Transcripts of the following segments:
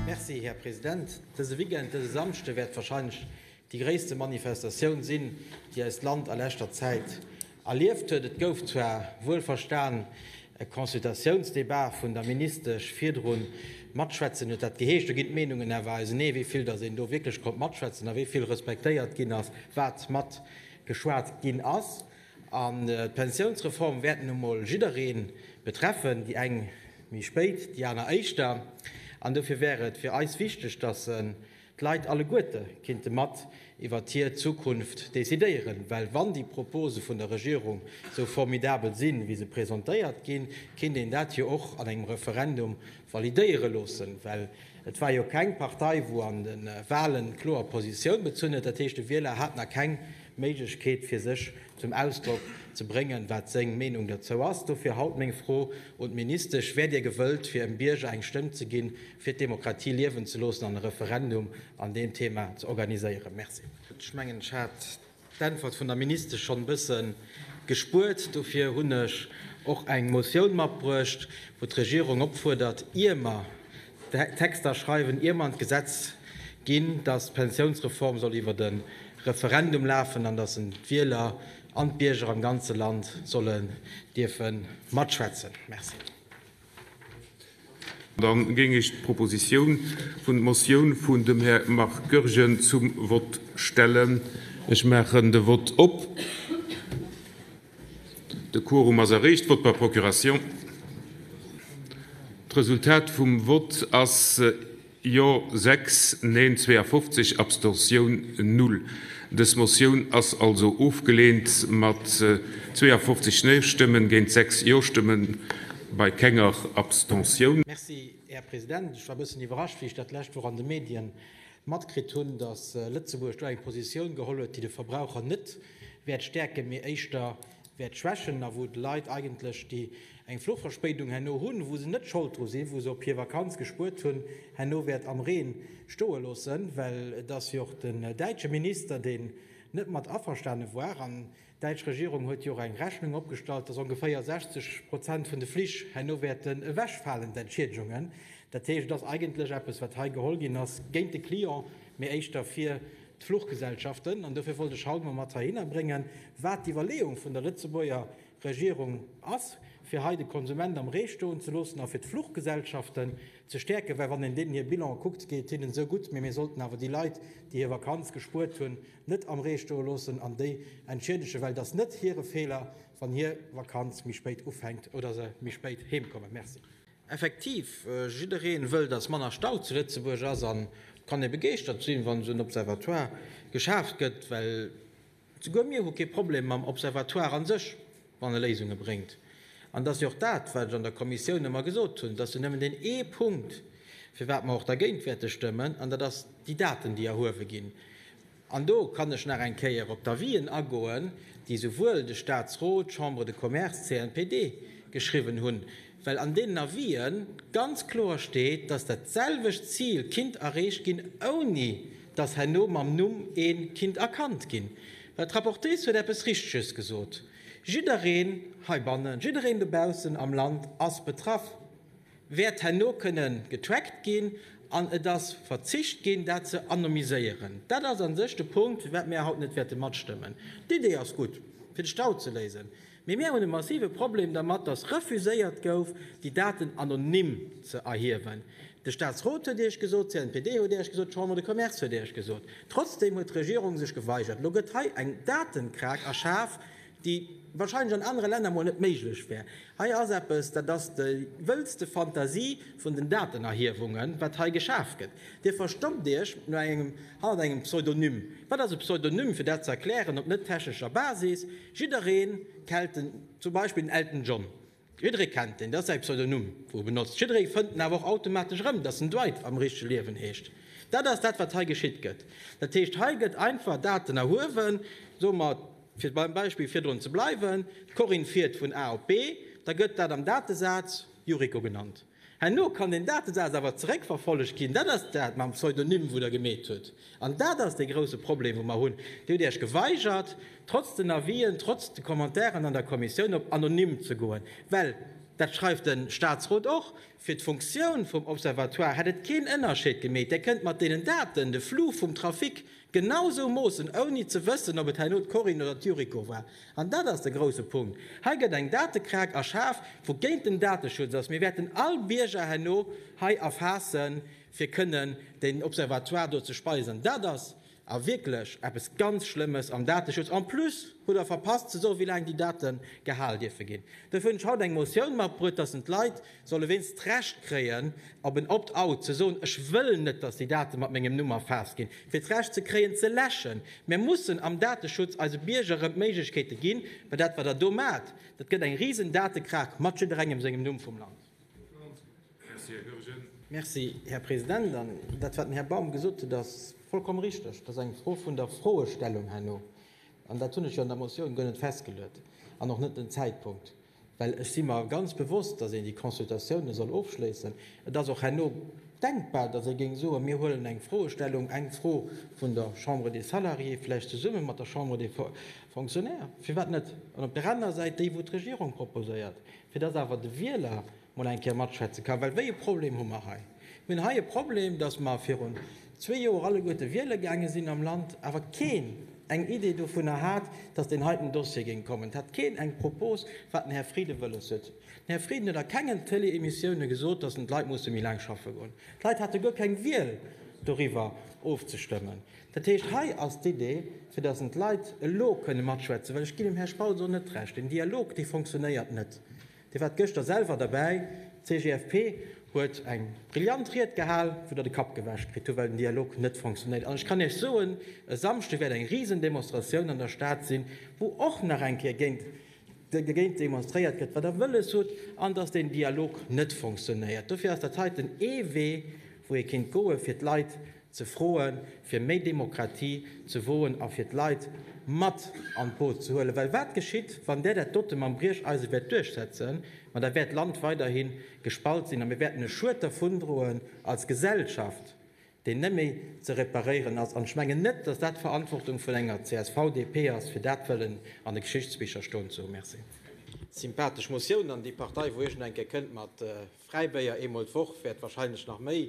Merci, Här President. Dëse Weekend, dëse Samschde, wäert wahrscheinlech déi gréisste Manifestatioun sinn, déi eist Land a leschter Zäit Erlieft huet. Et gouf zwar, wuel verstan, e Consultatiounsdebat vun der Ministesch virdru matschwätzen, huet dat geheescht. Do ginn d'Meenungen awer ausenee, wéi vill datt een do wierklech konnt matschwätzen a wéi vill respektéiert ginn ass, wat matgeschwat ginn ass. An d'Pensiounsreform wäert nun emol jidderee betreffen, déi eng méi spéit, déi aner éischter. An dofir wär et fir eis wichteg, datt se D'Leit alleguerte kinnte mat iwwert hir Zukunft decidéieren, well wann déi Propose vun der Regierung sou formidabel sinn, wéi se presentéiert ginn, kinnt een dat jo och an engem Referendum validéiere loossen, well et war jo keng Partei, wou an de Wahlen kloer Positioun bezunn huet. Dat heescht, de Wieler hat nach keng Méiglechkeet, fir sech zum Ausdrock ze bréngen, wat seng Meenung derzou ass. Dofir haut meng Fro un d'Ministesch, Wäert Dir gewëllt, fir em Bierger eng Stëmm ze ginn, fir d'Demokratie liewen ze loossen an e Referendum an deem Thema ze organiséieren. Merci. Ech mengen, ech hat d'Äntwert vun der Ministesch schonn e bësse gespuert. Dofir hunn ech och eng Motioun matbruecht, wou d'Regierung opfuerdert, ier mer d'Texter schreiwen, ier mer an d'Gesetz ginn, dass d'Pensiounsreform soll iwwert e Referendum lafen an dass d'Wieler an d'Bierger am ganze Land sollen dierfe matschwätzen. Merci. Dann géing ech d'Proposition vun, d'Motioun vun dem Här Marc Goergen zum Vott stellen. Ech maachen de Vott op. De Quorum ass erreecht, Vott par procuration. D'Resultat vum Vott ass, Jo 6, Neen 52, Abstention null. Dës Motioun ass also ofgeleent mat 52 Neen-Stëmmen géint 6 Jo-Stëmmen bei kenger Abstention. Merci, Här President. Ech war e bëssen iwwerrascht, wéi ech dat d'lescht Woch an de Medien matkritt hunn, dass Lëtzebuerg do eng Positioun geholl huet, déi de Verbraucher net wäert stäerken, mee éischter wäert schwächen a wou d'Leit eigentlech, déi eng Fluchverspéidung herno hunn, wou se net Schold dru sinn, wou se op hir Vakanz gespuert hunn, herno wäert am Reen stoe loossen, well et ass jo och den däitsche Minister, deen net mat averstane war. An d'däitsch Regierung huet jo och eng Rechnung opgestallt, dass ongeféier 60 Prozent vun de Flich herno wäerten ewechfalen, d'Entschieedegungen. Dat heescht, et ass eigentlech eppes, wat hei geholl ginn ass, géint de Client, mee éischter fir d'Fluchgesellschaften, an dofir wollt ech haut emol mat heihinner bréngen, wat d'Iwwerleeung vun der Lëtzebuerger Regierung ass, fir hei de Konsument am Ree stoen ze loossen a fir d'Fluchgesellschaften ze stäerken, well wann een deenen hir Bilanë kuckt, geet et hinnen esou gutt, mee mir sollten awer déi Leit, déi hir Vakanz gespuert hunn, net am Ree stoe loossen an déi entschiedegen, well et ass net hire Feeler, wann hir Vakanz méi spéit ufänkt oder se méi spéit heemkommen. Merci. Effektiv, jiddereen wëll dass manner Stau zu Lëtzebuerg ass an kann ee begeeschtert sinn wann esou en Observatoire geschaaft gëtt, well souguer mir hu kee Problem mam Observatoire an sech wann e Léisungen bréngt. An et ass jo och dat wat ech an der Kommissioun ëmmer gesot hunn, et ass jo nëmmen deen ee Punkt firwat mer och dergéint wäerte stëmmen an dat ass déi Daten déi erhuewe ginn. An do kann ech nach eng Kéier op d'Avisen agoen, déi esouwuel de Statsrot, d'Chambre de Commerce, d'CNPD geschriwwen hunn, well an deenen Avisë ganz kloer steet, dass dat selwecht Zil kinnt erreecht ginn, ouni dass herno mam Numm ee kinnt erkannt ginn. Well d'Rapportrice huet eppes Richteges gesot, Jiddereen heibannen, jiddereen dobaussen am Land ass betraff. wäert herno kënne getrackt ginn an et ass verzicht ginn, dat ze anonymiséieren. Dat ass a sech de Punkt, fir wat mir haut net wäerte matstëmmen. D'Idee ass gutt, fir de Stau ze léisen, mee mir hunn e massive Problem dermat, dass refuséiert gouf, déi Daten anonym ze erhiewen. De Statsrot huet Iech gesot, d'CNPD huet Iech gesot, d'Chambre de Commerce huet Iech gesot. Trotzdem huet d'Regierung sech geweigert. Elo gëtt hei eng Datenkrag erschaf, déi wahrscheinlech an anere Länner mol net méiglech wär. Hei ass eppes, dat ass déi wëllste Fantasie vun den Datenerhiewungen, wat hei geschaf gëtt. Dir verstoppt Iech hannert engem Pseudonym. Wat ass e Pseudonym? Fir dat ze erklären op net-technescher Basis, Jidderee kellt zum Beispill den Elton John. Jiddere kennt en, et ass säi Pseudonym, wou e benotzt. Jidderee fënnt en awer och automatesch erëm, dass en Dwight am richtege Liewen heescht. Dat ass dat, wat hei geschitt gëtt. Dat heescht, hei gëtt einfach Daten erhuewen, soe mer, fir beim Beispill virdrun ze bleiwen, d'Corinne fiert vun A op B, da gëtt dat am Datesaz Yuriko genannt. Herno kann deen Datesaz awer zeréckverfollegt ginn. Dat ass dat mam Pseudonym, wou Der gemeet hutt. An dat ass dee grouse Problem, wou mer hunn. Dir hutt Iech geweigert, trotz den Avisen, trotz de Commentairen an der Kommissioun, op anonym ze goen, well, dat schreift de Statsrot och, fir d'Funktioun vum Observatoire hätt et keen Ënnerscheed gemeet. Där kënnt mat deenen Daten de Flux vum Trafic genau sou moossen, ouni ze wëssen, ob et herno d'Corinne oder d'Yuriko war. An dat ass de grousse Punkt. Hei gëtt eng Datekrag erschaf, wou géint den Dateschutz ass. Mir wäerten all Bierger herno hei erfaassen, fir kënnen den Observatoire do ze speisen. Dat ass a wierklech eppes ganz Schlëmmes am Dateschutz. En plus hutt Der verpasst ze soen, wéi laang déi Date gehal dierfe ginn. Dofir hunn ech haut eng Motioun matbruet, dass en d'Leit, solle wéinst d'Recht kréien, op en Opt-out ze soen, Ech wëll net, datt déi Date mat mengem Numm erfaasst ginn, fir d'Recht ze kréien, ze läschen. Mir mussen am Dateschutz eise Bierger erëm d'Méiglechkeete ginn, well dat, wat Der do maacht, dat gëtt eng risen Datekrach mat jidderengem sengem Numm vum Land. Merci, Här Goergen. Merci, Här President. An dat, wat den Här Baum gesot huet, ass vollkomm richteg. Dat ass eng Fro vun der Froestellung herno. An dat hunn ech jo an der Motioun guer net festgeluet an och net den Zäitpunkt. Well ech si mer ganz bewosst, dass een déi Consultatiounen soll ofschléissen. Et ass och herno denkbar, dass ee géing soen, mir huelen eng Froestellung, eng Fro vun der Chambre des Salariés, vläicht zesumme mat der Chambre des Fonctionnaires, firwat net, an op där anerer Säit déi, wou d'Regierung proposéiert, fir dass awer de Wieler, mol eng Kéier matschwätze kann. Well wéi e Problem hu mer hei? Mir hunn hei e Problem, dass mer virun zwee Joer alleguerte wiele gaange sinn am Land, awer keen eng Idee dovunner hat, dass deen heiten Dossier géing kommen. Et hat keen eng Propos, wat den Här Frieden wëlles huet. Den Här Frieden huet a kengen Tëlee-Emissioune gesot, dass en d'Leit musse méi laang schaffe goen. D'Leit hate guer keng Wiel, doriwwer ofzestëmmen. Dat heescht, hei ass d'Idee, fir dass en d'Leit elo kënne matschwätzen, well ech ginn dem Här Spautz och net Recht, deen Dialog, dee fonctionnéiert net. Dir waart gëschter selwer derbäi, d'CGFP huet eng brillant Ried gehal, wou Der de Kapp gewäsch kritt hutt, well den Dialog net fonctionéiert. An ech kann Iech soen, e Samschde wäert eng Risendemonstratioun an der Stad sinn, wou och nach eng Kéier géint dogéint demonstréiert gëtt, wat Der wëlles hutt an dass deen Dialog net fonctionéiert. Dofir ass dat heiten ee Wee, wou ee kéint goen, fir d'Leit, ze froen, fir méi Demokratie ze woen a fir d'Leit mat an d'Boot ze huelen. Well wat geschitt, wann där dat dote mam Briecheisen wäert duerchsetzen? Ma da wäert d'Land weiderhi gespalt sinn a mir wäerten e Schued dervundroen als Gesellschaft, deen net méi ze reparéieren ass. An ech mengen net, dass dat d'Verantwortung vun enger csv, DP ass, fir dat wëllen an de Geschichtsbicher stoen ze hu. Merci. Sympathesch Motioun an déi Partei, wou iergend eng Kéier kënnt mat Fräibéier eemol d'Woch, wäert wahrscheinlech nach méi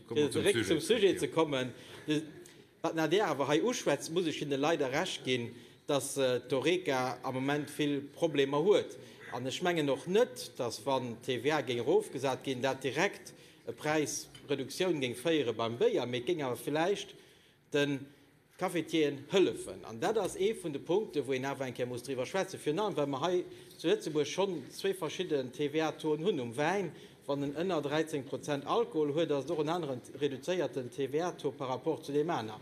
Fir zeréck zum Sujet ze kommen, wat d'Nader awer hei uschwätzt, muss ech hinne leider Recht ginn, dass d'Horeca am Moment vill Problemer huet. An ech mengen och net, dass wann d'TVA géing erofgesat ginn, dat direkt e Präisreduktioun géing féiere beim Béier, mee et géing awer vläicht den Cafetieren hëllefen. An dat ass ee vun de Punkten, wou een awer eng Kéier muss driwwer schwätzen, virun allem well mer hei zu Lëtzebuerg schonn zwee verschidden TVA-Toen hunn um Wäin. Wann en ënner 13 Prozent Alkohol huet, ass et och en aneren reduzéierten TVA-Taux par rapport zu deem aner,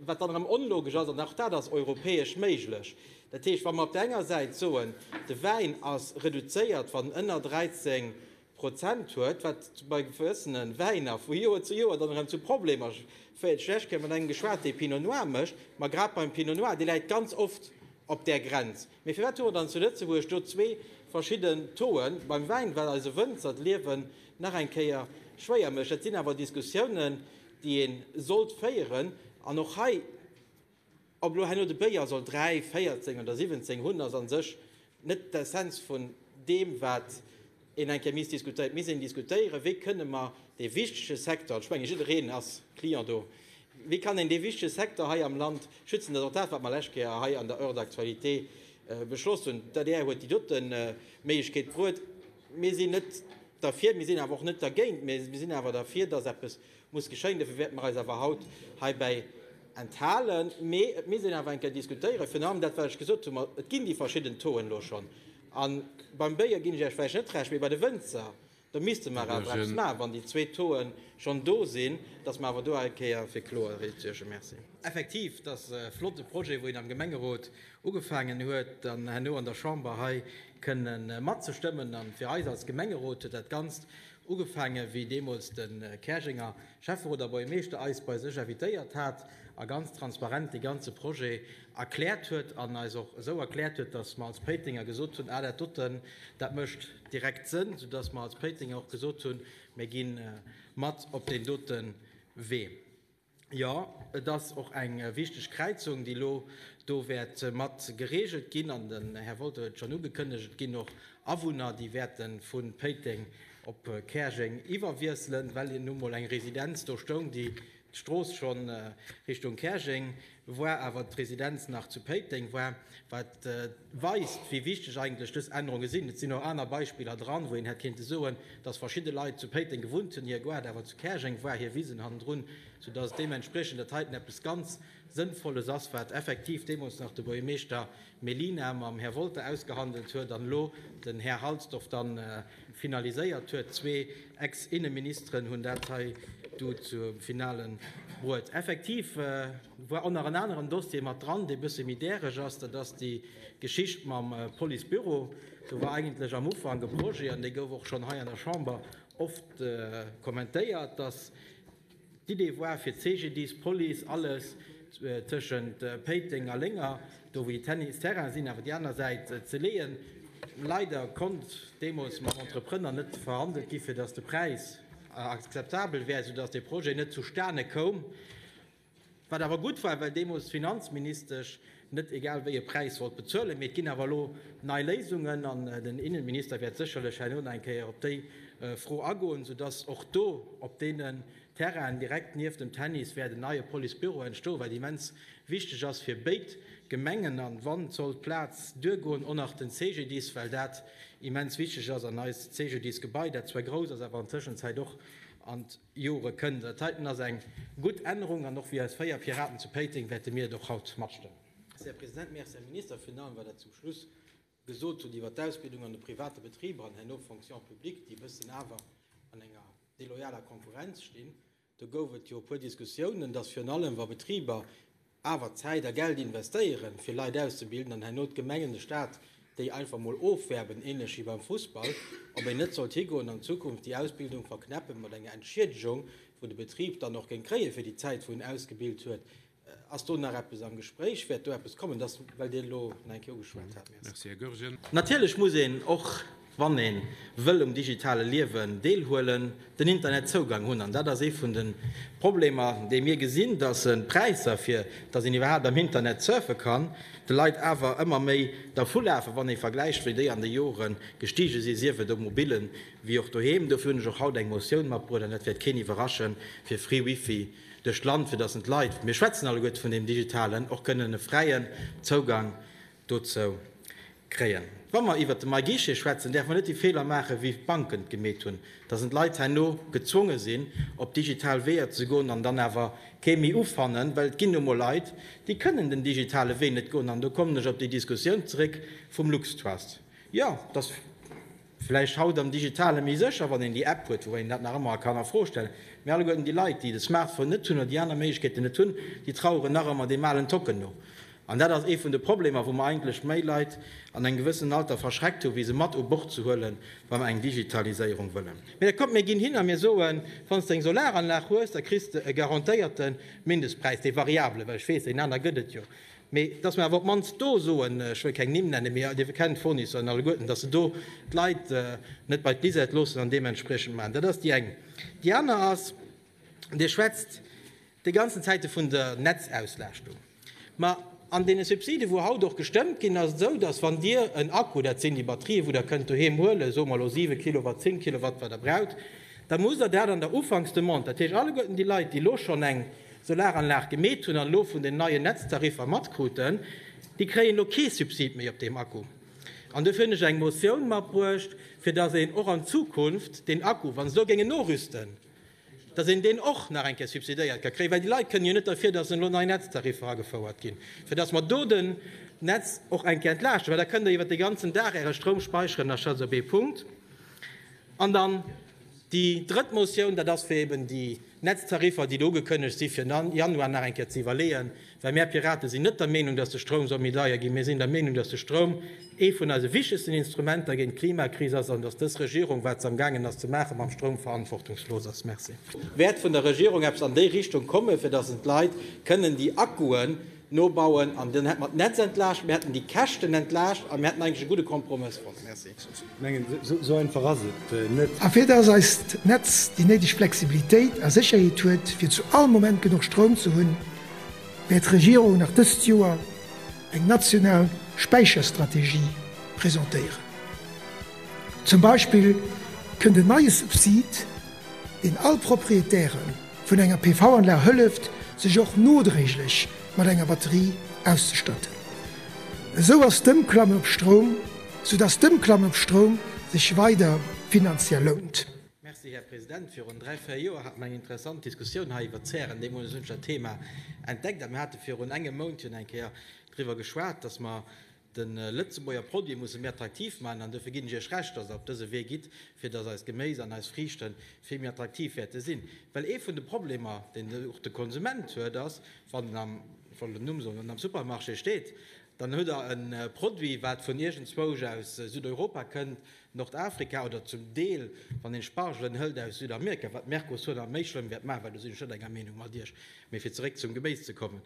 wat dann erëm onlogesch ass. An och dat ass europäesch méiglech. Dat heescht, wa mer op där enger Säit soen, de Wäin ass reduzéiert, wann en ënner 13 Prozent huet, wat bei gewëssene Wäiner vu Joer zu Joer dann erëm zu Problemer féiert. Ech hu mat engem geschwat, dee Pinot Noir mécht, ma grad beim Pinot Noir, dee läit ganz oft op där Grenz. Mee firwat hu mer dann zu Lëtzebuerg do zwee verschidden Taux'en beim Wäin? Well eise Wënzer d'Liewen nach eng Kéier schwéier mécht. Dat sinn awer Diskussiounen, déi ee sollt féieren an och hei Ob elo herno de Béier soll dräi, véierzéng oder siwwenzéng hunn, ass a sech net d'Essenz vun deem, wat een enke misst diskutéieren. Et misst een diskutéieren, wéi kënne mer dee wichtege Secteur, an ech menge jiddereen ass Client do, wéi kann een dee wichtege Secteur hei am Land schützen. Dat ass och dat, wat mer lescht Kéier hei an der Heure d'actualité beschloss hunn. D'adr huet déi dote Méiglechkeet bruet. Mir sinn net derfir, mir sinn awer och net dergéint, mä mir sinn awer derfir, dass eppes muss geschéien, dofir wäerte mer eis awer haut heibäi enthalen. Mee et misst een awer eng Kéier diskutéieren, virun allem dat wat ech gesot hunn, et ginn déi verschidden Tauxen elo schonn. A beim Béier ginn ech Iech vläicht net Recht, mee bei de Wënzer, do misste mer awer eppes maachen, wann déi zwee Tauxe schonn do sinn, dass mer awer do eng Kéier fir Kloerheet suergen. Merci. Effektiv, dat ass e flotte Projet, wou een am Gemengerot ugefaangen huet, dann herno an der Chamber hei kënne matzestëmmen. A fir eis als Gemengerot huet dat Ganzt Ugefaange wéi deemools de Käerjenger Schäfferoter Bourgemeeschter eis bei sech invitéiert hat a ganz transparent dee ganze Projet erkläert huet an eis och esou erkläert huet, datt mer als Péitenger gesot hunn, ah dat doten, dat mécht direkt Sënn, soudatt mer als Péitenger och gesot hunn, mir gi mat op deen dote Wee. Jo, et ass och eng wichteg Kräizung, déi elo do wäert mat gereegelt ginn. An den Här Wolter huet et schonn ugekënnegt, et ginn och Awunner, déi wäerte vu Péiteng op Käerjeng iwwerwiesselen, well nun emol eng Residenz do stoung, déi d'Strooss schonn Richtung Käerjeng War awer d'Residenz nach zu Péiteng war, wat weist, wéi wichteg eigentlech dës Ännerunge sinn. Et sinn och aner Beispiller dran, wou een hätt kéinte soen, dass verschidde Leit zu Péiteng gewunnt hunn, hir Gare awer zu Käerjeng war, hir Wisen hannendrun, soudass deementspriechend dat heiten eppes ganz Sënnvolles ass, wat effektiv deemools nach de Buergermeeschter Melina mam Här Wolter ausgehandelt huet an elo den Här Halsdorf dann finaliséiert huet. Zwee Ex-Inneministeren hunn dat hei du zum Finale bruet. Effektiv war och nach en aneren Dossier mat dran, dee bësse méi däreg ass. Dat ass déi Geschicht mam Policebüro. Do war eigentlech am Ufank e Projet, an dee gouf och schonn hei an der Chamber oft kommentéiert, dass D'Idee woar fir d'Cegedis, Police, alles tëschent Péiteng a Lénger, do wou déi Tennisterrainen sinn awer déi aner Säit, ze leeën. Leider konnt deemols mam Entreprënner net verhandelt gi fir dass de Präis akzeptabel wär, soudass dee Projet net zustane koum. Wat awer gutt war, well deemools d'Finanzministesch net egal wéi e Präis wollt bezuelen. Mee et ginn awer elo nei Léisungen an den Innenminister wäert sécherlech herno nach eng Kéier op déi Fro agoen, soudass och do op deenen Terrainen direkt nieft dem Tennis wäert en neie Policebüro entstoen, wat immens wichteg ass fir béid Gemengen an wa sollt d'Plaz duergoen, och nach den CGDIS, well dat immens wichteg ass an eist CGDIS-Gebai, dat zwar grouss ass, awer an Tëschenzäit och an Jore kënnt. Dat heiten ass eng gutt Ännerung an och wéi eis véier Piraten zu Péiteng wäerte mir et och haut matstëmmen. Merci, Här President. Merci, Här Minister, virun allem, wat Der zum Schluss gesot hutt iwwert d'Ausbildung an de private Betriber an herno d'Fonction publique, déi e bëssen awer an enger deloyaler Konkurrenz stinn. Do gouf et jo e puer Diskussiounen, dass virun allem, wa Betriber Awer Zäit a Geld investéieren, fir Leit auszebilden, an herno d'Gemengen, de Staat, déi einfach mol ofwerben, ähnlech wéi beim Fussball, ob een net sollt higoen an Zukunft déi Ausbildung verknäppen mat enger Entschiedegung, wou de Betrib dann och géing kréien, fir déi Zäit, wou en ausgebilt huet. Ass do nach eppes am Gespréich? Wäert do eppes kommen? Dat ass, well Dir elo nach eng Kéier ugeschwat hat. Merci. Natierlech muss een och. wann ee wëll um digitale Liewen deelhuelen, den Internetzougang hunn. An dat ass ee vun de Problemer, dee mir gesinn, datt d'Präisser, fir datt een iwwerhaapt am Internet surfe kann, de Leit awer ëmmer méi dervulafen, wann ee vergläicht, wéi déi an de Jore gestige sinn, sief et um Mobilen, wéi och doheem. Dofir hunn ech och haut eng Motioun matbruecht, an dat wäert keen iwwerraschen, fir free Wifi duerch d'Land, fir datt een d'Leit, mir schwätzen alleguerte vun deem Digitalen, och kënnen e fräien Zougang dozou kréien. Wa mer iwwert de MyGuichet schwätzen, däerfe mer net déi Feeler maachen, wéi d'Banken et gemeet hunn, dass en d'Leit herno gezwonge sinn, op digital Weeër ze goen an dann awer kee méi ufannen, well et ginn nu emol Leit, déi kënnen den digitale Wee net goen. An do kommen ech op déi Diskussioun zeréck vum LuxTrust. Jo, dass. Vläicht haut am Digitale méi sécher, wann een déi App huet, woubäi een dat nach ëmmer kann a Fro stellen. Mee alleguerten déi Leit, déi de Smartphone net hunn oder déi aner Méiglechkeeten net hunn, déi traueren nach ëmmer deem alen Tocken no. An dat ass ee vun de Problemer, wou mer eigentlech méi Leit an engem gewëssenen Alter verschreckt hu wéi se mat u Bord ze huele wa mer eng Digitaliséierung wëllen. Mee da kommt, mir ginn hin a mir soen, wann s de eng Solaranlag hues, da kriss de e garantéierten Mindestpräis, dee variabele, well ech weess, deen aner gëtt et jo, Mee dass mer awer op d'mannst do soen, ech wëll keng Nimm nennen, mee Dir kennt d'Fournisseur en alleguerten, dass se do d'Leit net bei d'Bisette loossen an deementspriechend maachen. Dat ass déi eng. Déi aner ass, Dir schwätzt déi ganzen Zäite vun der Netzauslastung. Ma an deene Subsiden, wou haut och gestëmmt ginn, ass et esou, dass wann Dir en Akku, dat sinn déi Batterië wou Der kënnt doheem huelen, soe mer elo siwe Kilowatt, zéng Kilowatt, wat Der braucht, da musst Der dat an der Ufanksdemande, dat heescht alleguerten déi Leit, déi elo schonn eng Solaranlag gemeet hunn an elo vun den neien Netztariffer matkruten, déi kréien elo kee Subsid méi op deem Akku. An dofir hunn ech eng Motioun matbruecht, fir datt een och an Zukunft deen Akku, wa se elo géingen norüsten, datt een deen och nach eng Kéier subsidéiert ka kréien, well déi Leit kënnen jo net derfir, datt elo nei Netztariffer agefouert ginn, fir datt mer do den Netz och eng Kéier entlaaschten, well da kënnt Der iwwert de ganzen Dag Äre Stroum speicheren. Dat ass also ee Punkt. An dann déi drëtt Motioun, dat ass, fir eben déi Netztariffer, déi do ugekënnegt si fir Januar nach eng Kéier ze iwwerleeën, well mär Piraten sinn net der Meenung, datt de Stroum soll méi deier ginn. Mir sinn der Meenung, datt de Stroum ee vun eise wichtegsten Instrumenter géint d'Klimakris ass an datt dës Regierung, wat se amgaangen ass ze maachen mam Stroum, verantwortungslos ass. Merci. Wäert vun der Regierung eppes an déi Richtung kommen, fir datt en d'Leit kënnen déi Akkuen, Nobauen an dann hätte mer d'Netz entlaascht, mir hätten déi Käschten entlaascht a mir hätten eigentlech e gudde Kompromëss fonnt. Merci. Esou einfach ass et net. A fir dass eist Netz déi néideg Flexibilitéit a Sécherheet huet, fir zu all Moment genuch Stroum ze hunn, wäert d'Regierung nach dëst Joer eng national Späicherstrategie presentéieren. Zum Beispill kënnt en neie Subsid, deen all Proprietären, vun enger PV-Anlag hëlleft, sech och nodréiglech mat enger Batterie auszestatten. Esou ass d'Ëmklamme op Stroum, sou dass d'Ëmklamme op Stroum sech weider finanziell lount. Merci, Här President. Virun dräi, véier Joer hate mer eng interessant Diskussioun hei iwwert d'Zären. Deemools hunn ech dat Thema entdeckt a mir hate virun engem Mount jo eng Kéier driwwer geschwat, dass mer, De Lëtzebuerger Produit musse mir attraktiv maachen an dofir ginn ech Iech Recht, dass Der op dëse Wee gitt, fir dass eist Geméis an eis Friichte vill méi attraktiv wäerte sinn. Well ee vun de Problemer, deen och de Konsument huet, ass, wann en am, ech wollt en Numm soen, wann en am Supermarché steet, dann huet der e Produit, wat vun iergendzwousch aus Südeuropa kënnt, Nordafrika oder zum Deel, wann een Spargelen hëlt, aus Südamerika, wat d'Mercosur nach méi schlëmm wäert maachen, well do sinn ech net enger Meenung mat Iech. Mee fir zeréck zum Geméis ze kommen,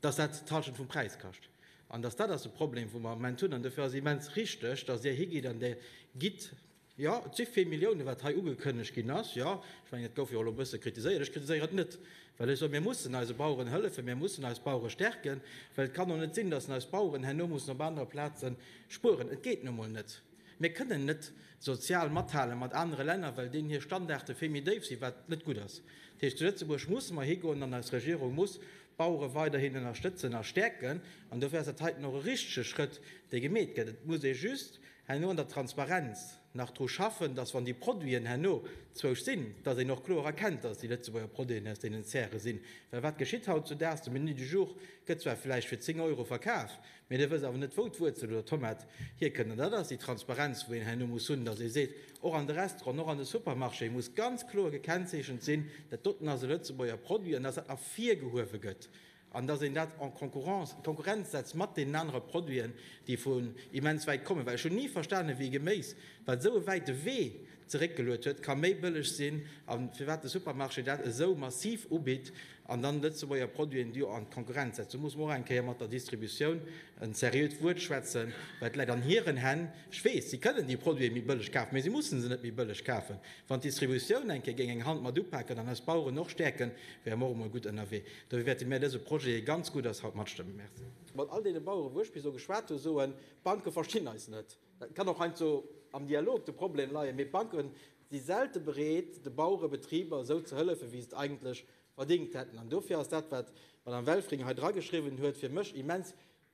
dass dat d'Hallschent vum Präis kascht, An dass dat ass de Problem, wou mer am Moment hunn. An dofir ass et immens richtig, dass Dir higitt an Dir gitt, jo, et si vill Milliounen, wat hei ugekënnegt ginn ass, jo, ech mengen, et gouf jo och elo e bësse kritiséiert, ech kritiséieren et net, well ech soen, mir mussen eise Baueren hëllefen, mir mussen eis Bauere stärken, well et kann och net sinn, dass eis Baueren herno mussen op anere Plaze spueren. Et geet nu emol net. Mir kënnen net sozial mathale mat anere Länner, well deenen hir Standarde vill méi déif sinn, wat net gutt ass. Dat heescht, zu Lëtzebuerg musse mer higoen an eis Regierung muss D'Bauere weiderhin ënnerstëtzen a stäerken. An dofir ass dat heiten och e richtege Schrëtt, dee gemeet gëtt. Et muss ee just herno an der Transparenz nach dru schaffen, datt, wann déi Produiten herno zwousch sinn, datt een och kloer erkennt, datt et déi Lëtzebuerger Produiten aus deenen Zäre sinn. Well wat geschitt hautzudaags? De Menu du jour gëtt zwar vläicht fir 10 Euro verkaf, Mee dir wësst awer net, wou d'Wuerzel oder d'Tomat hierkënnt. An dat ass déi Transparenz, wou een herno muss hunn, datt ee seet, och an de Restauranten, och an de Supermarchéë muss ganz kloer gekennzeechent sinn, dat doten ass e Lëtzebuerger Produit an datt dat ervirgehuewe gëtt an datt een dat en concurrence, Konkurrenz setzt mat deenen anere Produiten, déi vun immens wäit kommen. Well ech hunn ni verstanen, wéi Geméis, wat esou e wäite Wee zeréckgeluet huet, ka méi bëlleg sinn a firwat de Supermarché dat esou massiv ubitt an dann Lëtzebuerger Produiten do an d'Konkurrenz setzt. Do muss mer och eng Kéier mat der Distributioun en seriöt Wuert schwätzen, well et läit an hiren Hänn. Ech weess, si kënnen déi Produite méi bëlleg kafen, mä si mussen se net méi bëlleg kafen. Wann d'Distributioun eng Kéier géing eng Hand mat upaken an eis Baueren och stäerken, wäre mer och emol gutt ënnerwee. Dofir wäerte mir dëse Projet, dee ganz gutt ass, haut matstëmmen. Merci. Mat all deene Baueren, wou ech bis elo geschwat hu, soen, D'Banke verstinn eis net. Et kann och heiansdo am Dialog de Problem leien, mee d'Banke si selte bereet, de Bauere Betriber esou ze hëllefen, wéi se et eigentlech verdéngt hätten. An dofir ass dat, wat d'Madame Welfring hei drageschriwwen huet, fir mech immens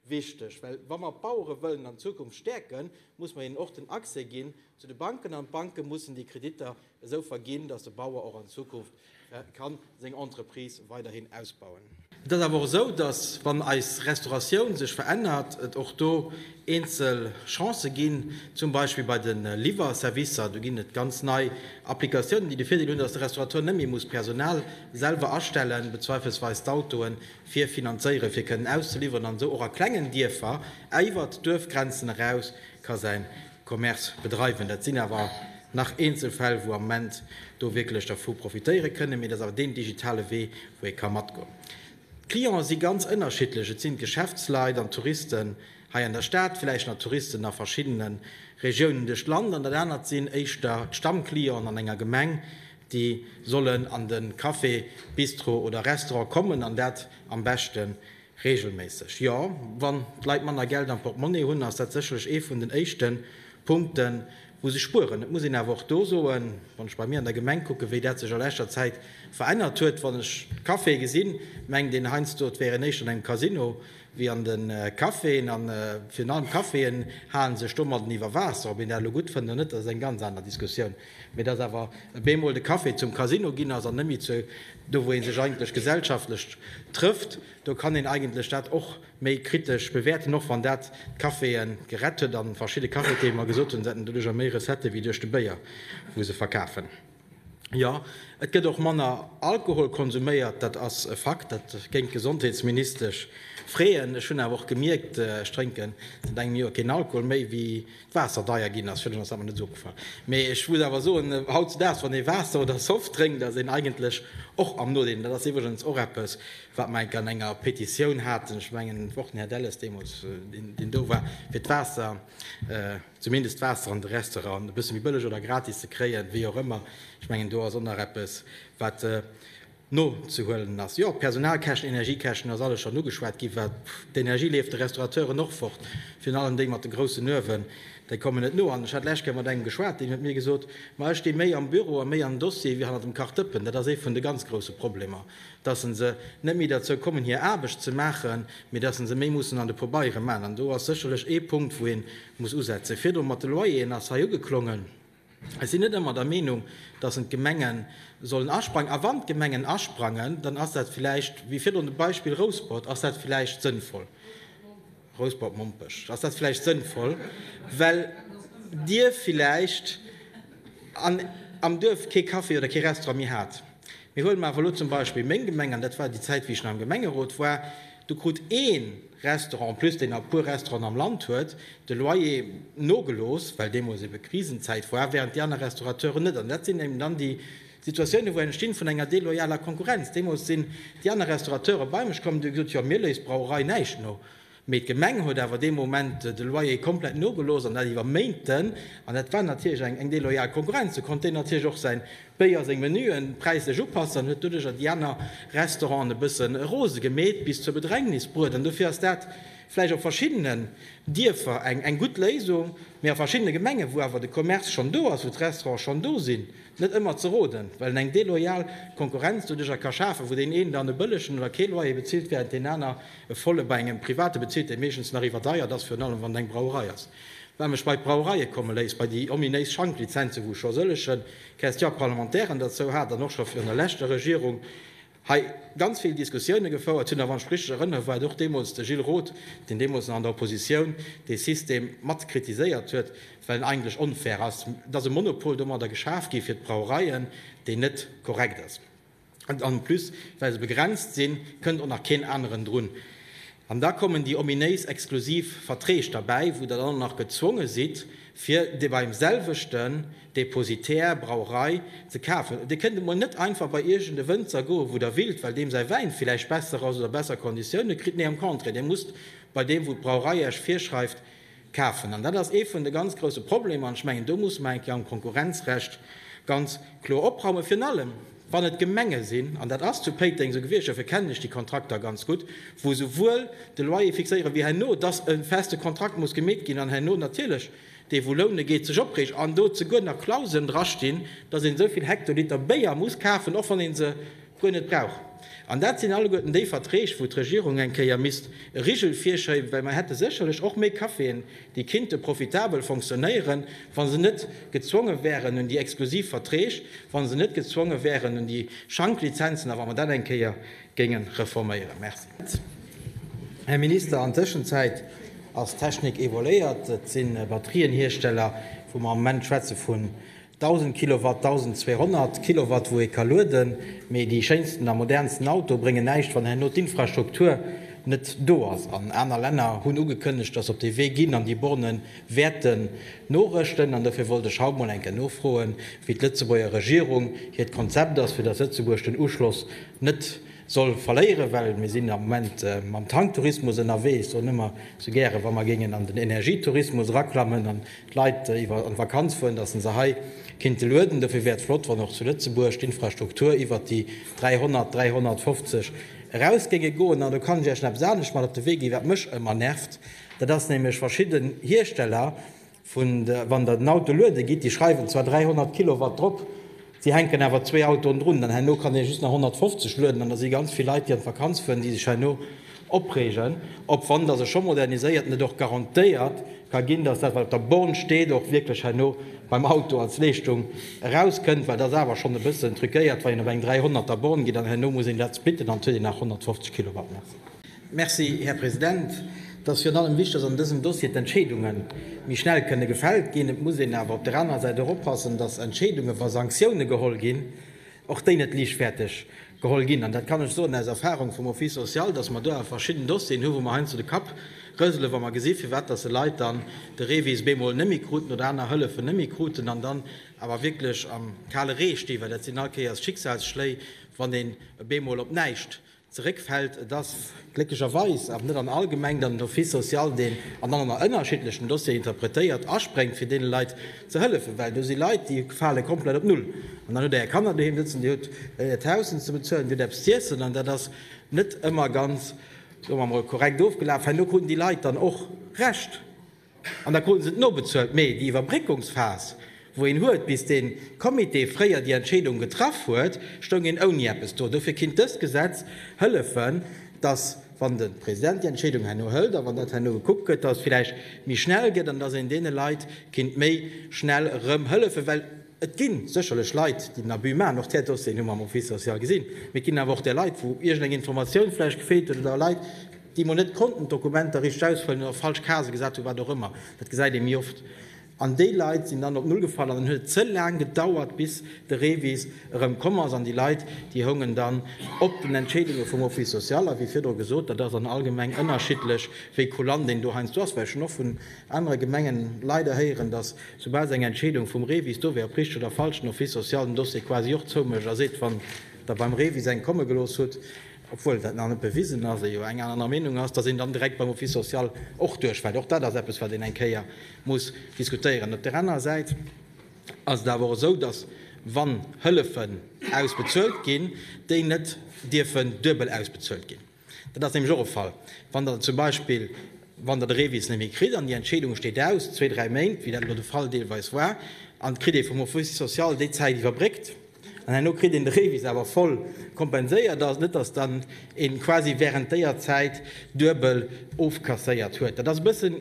wichteg. Well wa mer d'Bauere wëllen an Zukunft stäerken, muss mer hinnen och den Accès ginn zu de Banken an d'Banke mussen déi Kreditter esou verginn, datt de Bauer och an Zukunft kann seng Entreprise weiderhin ausbauen. Et ass awer och esou, datt wann eis Restauratioun sech verännert, et och do eenzel Chancen ginn, zum Beispill bei de Liwwerservicer. Do ginn et ganz nei Applikatiounen, déi de Virdeel hunn, datt de Restaurateur net méi muss Personal selwer astellen, bezweifelsweis d'Autoen fir finanzéieren, fir kënnen auszeliwweren, an esou och a klengen Dierfer iwwert d'Duerfgrenzen eraus ka säin Commerce bedreiwen. Dat sinn awer nach eenzel Fäll, wou am Moment do wierklech dervu profitéiere kënnen, mee dat ass awer deen digitale Wee, wou ee ka matgoen. D'Clienten si ganz ënnerschiddlech, et sinn d'Geschäftsleit an d'Touristen hei an der Stad, villäicht nach Touristen a verschiddene Regiounen duerch d'Land, an dat anert sinn éischter d'Stammclienten an enger Gemeng, déi sollen an de Café, Bistro oder Restaurant kommen an dat am beschte Reegelméisseg, jo. Wann d'Leit manner Geld am Portemonnaie hunn, ass dat sécherlech ee vun den éischte Punkte wou se spueren. Et muss een awer och do soen, wann ech bei mir an der Gemeng kucken, wéi dat sech a leschter Zäit verännert huet, wann ech d'Caféë gesinn, mengt een heiansdo et wär een éischter an engem Casino wéi an de Caféen. A virun allem d'Caféen hale sech domadden iwwer Waasser. Ob een dat elo gutt fënnt oder net, dat ass eng ganz aner Diskussioun. Mee dass awer e bemol de Café zum Casino ginn ass an net méi zu do wou ee sech eigentlech gesellschaftlech trëfft, do kann een eigentlech dat och méi kritesch bewäerten, och wann dat d'Caféë gerett huet a verschidde Cafetiere mer gesot hunn, se hätten doduercher méi Recettë wéi duerch de Béier wou se verkafen. Jo, et gëtt och manner Alkohol konsuméiert, dat ass e Fakt, dat géing d'Gesondheetsministesch freeën. Ech hunn awer och gemierkt, ech drénken säit engem Joer keen Alkohol méi, wéi Waasser deier ginn ass, fir ass awer net esou opgefall. Mee ech muss awer soen, hautzedaags, wann ee Waasser oder Soft drénkt, ass een eigentlech och am Nodeel. Dat ass iwwregens och eppes, wat mer enk an enger Petitioun haten, ech mengen, och den Här Delles deemools, deen do war, fir d'Waasser, zumindest d'Waasser an de Restauranten e bësse méi bëlleg oder gratis ze kréien, wéi och ëmmer. Ech mengen, do ass och nach eppes, wat. nozehuelen ass. Jo, Personalkäschten, Energiekäschten, ass alles schonn ugeschwat ginn. Wat d'Energie leeft de Restaurateuren och fort, virun allem déi mat de groussen Uewen, déi kommen net no. An ech hat d'lescht Kéier mat engem geschwat, deen huet mir gesot, ma ech sti méi am Büro a méi am Dossier wéi hannert dem Kachdëppen. Dat ass ee vun de ganz grousse Problemer, dass se net méi derzou kommen hir Aarbecht ze maachen, mee dass se méi mussen an de Pobeiere man. An do ass sécherlech ee Punkt wou ee muss usetzen. Virdru mat de Loyeren ass hei ugeklongen. Ech sinn net ëmmer der Meenung, dass en d'Gemenge sollen asprangen. A wann d'Gemengen asprangen, dann ass dat vläicht, wéi virdrun de Beispill Rouspert, ass dat vläicht sënnvoll, Rouspert-Mompech, ass dat vläicht sënnvoll, well Dir vläicht an am Duerf kee Café oder kee Restaurant méi hat. Mee huele mer awer elo zum Beispill meng Gemeng, an dat war déi Zäit, wéi ech nach am Gemengerot war, do krut ee. Restaurant, en plus deen a puer Restauranten am Land huet de Loyer nogelooss, well deemools ebe Krisenzäit war, während déi aner Restaurateuren net. An dat sinn eben dann déi Situatiounen, wou entstinn vun enger deloyaler Konkurrenz. Deemools sinn déi aner Restaurateuren bei mech komm an hu gesot, jo, mir léisst d'Brauerei näischt no, mee d'Gemeng huet awer dee Moment de Loyer komplett nogelooss an dat iwwer Méinten an dat war natierlech eng deloyal Konkurrenz. Do konnt deen natierlech och säin Béier seng Menuen präislech upassen an huet doduercher déi aner Restauranten e bësse rose gemeet, bis zur Bedrängnis bruet. An dofir ass dat vläicht op verschiddenen Dierfer eng gutt Léisung, mee a verschiddene Gemengen, wou awer de Commerce schonn do ass, wou d'Restaurante schonn do sinn, net ëmmer ze roden, well en eng deloyal Konkurrenz doduercher ka schafen, wou deen een dann e bëllegen oder kee Loyer bezilt, während deen aner e volle bei engem Private bezilt, dee meeschtens nach iwwerdeiert ass, virun allem wann et eng Brauerei ass. Wat mech bei d'Brauereie komme léisst, bei déi ominéis Schanklizenzen, wou ech scho sëllege Question parlementaire derzou hat an och scho virun der leschter Regierung hei ganz vill Diskussioune gefouert hunn, a wann ech mech richteg erënnere war et och deemools de Gilles Roth, deen deemools nach an der Oppositioun dee System mat kritiséiert huet, well en eigentlech onfair ass, et ass e Monopol domadder geschaf gi fir d'Brauereien, deen net korrekt ass. En plus, well se begrenzt sinn, kënnt och nach keen aneren drun. An da kommen déi ominéis exklusiv Verträg derbäi, wou Der dann och nach gezwonge sidd, fir dee beim selwechten Depositär, Brauerei, ze kafen. Dir kënnt emol net einfach bei iergend e Wënzer goen, wou Der willt, well deem säi Wäin villäicht besser ass oder besser Konditioune kritt. Nee, am Contraire, Dir musst bei deem, wou d'Brauerei Iech virschreift, Kafen. An dat ass ee vun de ganz grouse Problemer. An ech mengen, do muss mer eng Kéier am Konkurrenzrecht ganz kloer opraumen, virun allem wann et Gemenge sinn, an dat ass zu Péiteng esou gewiescht, dofir kennen ech déi Kontrakter ganz gutt, wou esouwuel de Loyer fixéieren, wéi herno, dass e feste Kontrakt muss gemeet ginn an herno natierlech dee wou loune geet, sech opreegt an do zeguer nach Klauseln drastinn, dass een esou vill Hektoliter Béier muss kafen, och wann ee se guer net brauch. An dat sinn alleguerten déi Verträg, wou d'Regierung eng Kéier misst e Rigel virschéiben, well mer hätte sécherlech och méi Caféen, déi kinnte profitabel fonctionnéieren, wa se net gezwonge wären un déi exklusiv Verträg, wa se net gezwonge wären un déi Schanklizenzen a wa mer dat eng Kéier géinge reforméieren. Merci, Här Minister. An Tëschenzäit ass d'Technik évoluéiert. Et si Batterienhiersteller, wou mer am Moment schwätze vun 1000 Kilowatt, 1200 Kilowatt wou ee ka lueden, mee déi schéinsten a modernsten Auto bréngen näischt wann herno d'Infrastruktur net do ass. An aner Länner hunn ugekënnegt, datt se op dee Wee ginn an déi Borne wäerte norëschten. An dofir wollt ech haut mol eng Kéier nofroen, wéi d'Lëtzebuerger Regierung hiert Konzept ass, fir datt Lëtzebuerg den Uschloss net soll verléieren, well mir sinn am Moment mam Tanktourismus ënnerwee. Ech soen ëmmer sou gäre wa mer géingen an den Energietourismus eraklammen, d'Leit iwwer an d'Vakanz fueren, dass se se hei kinnte lueden. Dofir wär et flott, wann och zu Lëtzebuerg d'Infrastruktur iwwert déi 300, 350 eraus géinge goen. An do kann ech Iech nach eppes anescht mat op de Wee ginn, wat mech ëmmer nervt, dat ass nämlech verschidden Hiersteller, wann Der den Auto luede gitt, déi schreiwen zwar 300 Kilowatt drop, Si hänken awer zwee Autoen drun, dann herno kann ee just nach 150 lueden an da si ganz vill Leit, déi an d'Vakanz fueren, déi sech herno opreegen, ob wann dass e scho moderniséiert an et och garantéiert ka ginn, dass dat wat op der Born steet och wierklech herno beim Auto als Leeschtung erauskënnt, well et ass awer schonn e bëssen truquéiert, wann een op eng 300 er Born geet an herno muss een dat splitten an huet een nach 150 Kilowatt. Merci. Merci, Här President. Et ass virun allem wichtig, dass an dësem Dossier d'Entscheedunge méi schnell kënne gefält ginn. Et muss een awer op der anerer Säit och oppassen, dass Entscheedungen, wa Sanktioune geholl ginn, och déi net liichtfäerteg geholl ginn. An dat kann ech soen aus Erfahrung vum Office social, dass mer do awer verschidden Dossieren hunn, wou mer heiansdo de Kapp rëselen, wa mer gesinn, firwat dass e Leit dann de REVIS bemol net méi kruten oder aner Hëllefen net méi kruten an dann awer wierklech am kale Ree stinn, well dat sinn all Kéiers Schicksalsschléi, wann een bemol op näischt zeréckfält. Et ass glécklecherweis awer net an all Gemeng, datt den Office social deen an allen a ënnerschiddlechen Dossieren interpretéiert, aspréngt fir deene Leit ze hëllefen, well do si Leit, déi fale komplett op Null. An dann hutt Der Är Kanner doheem sëtzen, Dir hutt Äert Haus ze bezuelen, Dir hutt eppes z'iessen, an dat ass net ëmmer ganz, soe mer emol, korrekt ofgelaf. Herno kruten déi Leit dann och Recht. An da kruten se et nobezuelt. Mee déi Iwwerbréckungsphas, wou een huet, bis dee Comité fréier déi Entscheedung getraff huet, stoung een ouni eppes do. Dofir kinnt dëst Gesetz hëllefen, dass, wann de President déi Entscheedung herno hëlt a wann dat herno gekuckt gëtt, dass et vläicht méi schnell gëtt an dass een deene Leit kinnt méi schnell erëm hëllefen. Well et gi sécherlech Leit, déi den Abus maachen. Och där Dossieren hu mer am Office social gesinn. Mee et ginn awer och där Leit, wou iergendeng Informatioun vläicht gefeelt huet oder Leit, déi emol net konnten d'Dokumenter richteg ausfëllen oder falsch Casë gesat hunn, wat och ëmmer, dat gesäit ee méi oft, an déi Leit sinn dann op Null gefall an dann huet et ze laang gedauert, bis de REVIS erëm komm ass an déi Leit, déi houngen dann op den Entscheedunge vum Office social. A wéi virdru gesot, dat ass an all Gemeng ënnerschiddlech, wéi kulant een do heiansdo ass, well ech hunn och vun anere Gemengen leider héieren, datt soubal se eng Entscheedung vum REVIS do wär, op richteg oder falsch, den Office social den Dossier quasi och zoumécht a seet, wann Der beim REVIS eng komme gelooss hutt, obwuel dat nach net bewisen ass, ee jo eng aner Meenung ass, datt een dann direkt beim Office social och duerchfält. Och dat ass eppes, wat een eng Kéier muss diskutéieren. Op där anerer Säit ass et awer och esou, datt, wann Hëllefen ausbezuelt ginn, déi net dierfen duebel ausbezuelt ginn. Dat ass nämlech och e Fall, wann Der zum Beispill, wann Der de Revis net méi kritt an déi Entscheedung steet aus, zwee, dräi Méint, wéi dat elo de Fall deelweis war, an et kritt ee vum Office social déi Zäit iwwerbréckt, An herno kritt een de Revis awer voll kompenséiert. Ass net, dass dann een quasi während déier Zäit duebel ofkasséiert huet. Dat ass e bëssen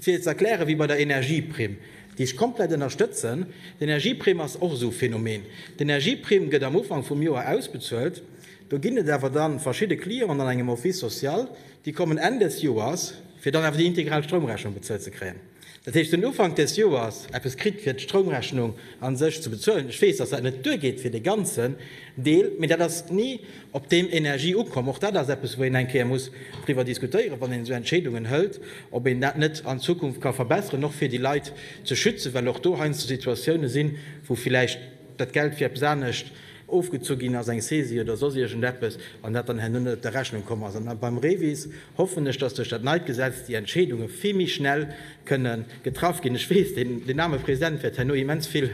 fir ze erklären wéi bei der Energieprimm, déi ech komplett ënnerstëtzen. D'Energieprimm ass och esou e Phänomen. D'Energieprimm gëtt am Ufank vum Joer ausbezuelt. Do ginn et awer dann verschidde Clienten an engem Office social, déi kommen Enn des Joers, fir dann awer déi integral Stroumrechnung bezuelt ze kréien. Dat heescht, den Ufank des Joers eppes kritt, fir d'Stroumrechnung a sech ze bezuelen. Ech weess, dass dat net duergeet fir dee ganzen Deel, mee dat ass ni op deem Energie ukomm. Och dat ass eppes, wou een eng Kéier muss driwwer diskutéieren, wann een esou Entscheedungen hëlt, ob een dat net an Zukunft ka verbesseren, och fir déi Leit ze schützen, well och do heiansdo Situatiounen sinn, wou villäicht dat Geld fir eppes anescht ofgezu ginn ass, eng Saisie oder soss iergendeppes, an dat dann herno net op der Rechnung komm ass. An beim REVIS hoffen ech, dass duerch dat neit Gesetz déi Entscheedunge vill méi schnell kënne getraff ginn. Ech weess, deen aarme President wäert herno immens vill